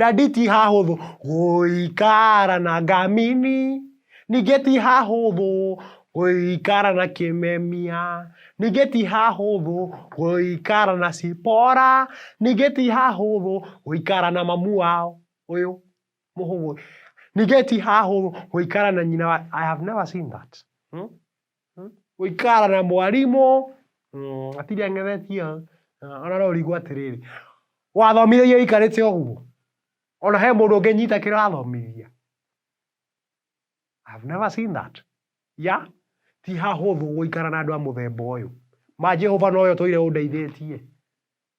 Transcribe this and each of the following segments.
Dadi ti hahũthũ gũikara na ngamini, ningĩ ti hahũthũ gũikara na kĩmemia, ningĩ ti hahũthũ gũikara na cipora, ningĩ ti hahũthũ gũikara na mamu wao ũyũ mũhũthũ, ningĩ ti hahũthũ gũikara na nyina wa, I have never seen that. gũikara na mwarimũ, hatirĩ ang'ethetio, ona no ũrigwo atĩrĩrĩ, wathomithĩria wĩikarĩte ũguo? Ona he mũndũ ũngĩnyita kĩrĩa ũrathomithia? I've never seen that. Yeah? Ti hahũthũ gũikara na andũ a mũthemba ũyũ. Ma Jehova nowe ũtũire ũndeithĩtie.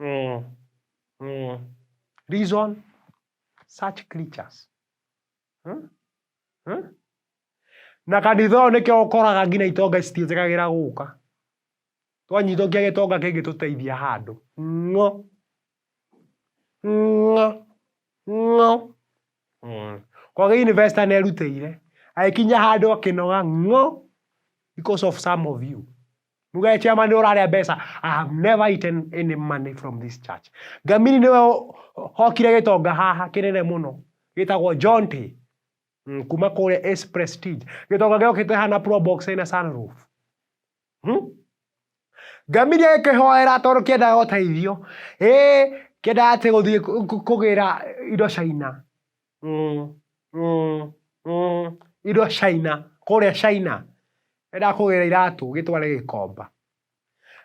Mm. Mm. Reason such creatures. Hmm? Hmm? Na kanitha ũyũ nĩkĩo ũkoraga nginya itonga citiĩtĩkagĩra gũka. Twanyitwo kĩa gĩtonga kĩngĩtũteithia handũ. Ng'o. Ng'o, ng'o, ng'o. Koguo university nerutĩire, agĩkinya handũ akĩnoga ng'o, because of some of you. Muge chairman nĩwe ũrarĩa mbeca, I have never eaten any money from this church. Ngamiri nĩwe ũ- hokire gĩtonga haha kĩnene mũno, gĩtagwo Jonte, mm, kuma kũrĩa Ace Prestige. Gĩtonga gĩokĩte haha na probox ĩna sunroof. Hmm? Ngamĩria ĩkĩhoera tondũ kĩendaga ũteithio. Ĩ kĩendaga atĩ gũthiĩ kũgĩra indo China. Mm, mm, mm. Indo China, kũrĩa China. Endaga kũgĩra iratũ, gĩtware gĩkomba.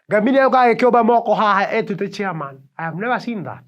Ngamĩria yũkaga gĩkĩũmba moko haha ĩtwĩte chairman. I have never seen that.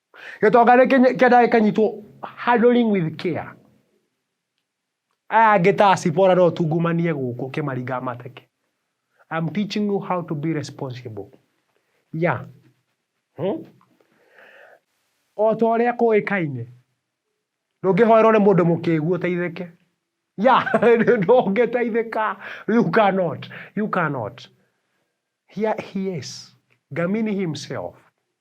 gĩtonga nĩ kĩnye- kĩendaga gĩkanyitwo handling with care aya angĩ ta acibora no tungumanie gũkũ kĩmaringa mateke I'm teaching you how to be responsible yeah hmm? o ta ũrĩa kũĩkaine ndũngĩhoerwo nĩ mũndũ mũkĩgu ũteithĩke ya ndũngĩteithĩka you cannot you cannot Here he is ngamini himself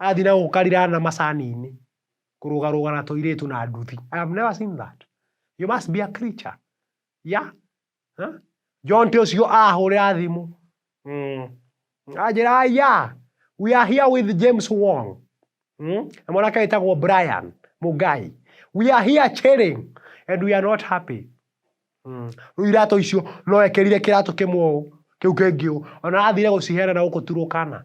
Athiĩ na gũkarira na macani-inĩ, kũrũgarũga na tũirĩtu na nduthi. I have never seen that. You must be a creature. Yeah? Huh? Jonte ũcio ahũrĩra thimũ. Mm. Anjĩra aya, we are here with James Wong. Mm? Na mwanake wĩtagwo Brian Mugai. We are here chilling and we are not happy. Mm. Rĩu iratũ icio no ekĩrire kĩratũ kĩmwe ũũ, kĩu kĩngĩ ũũ. Ona athire gũciheana na gũkũ turũkana.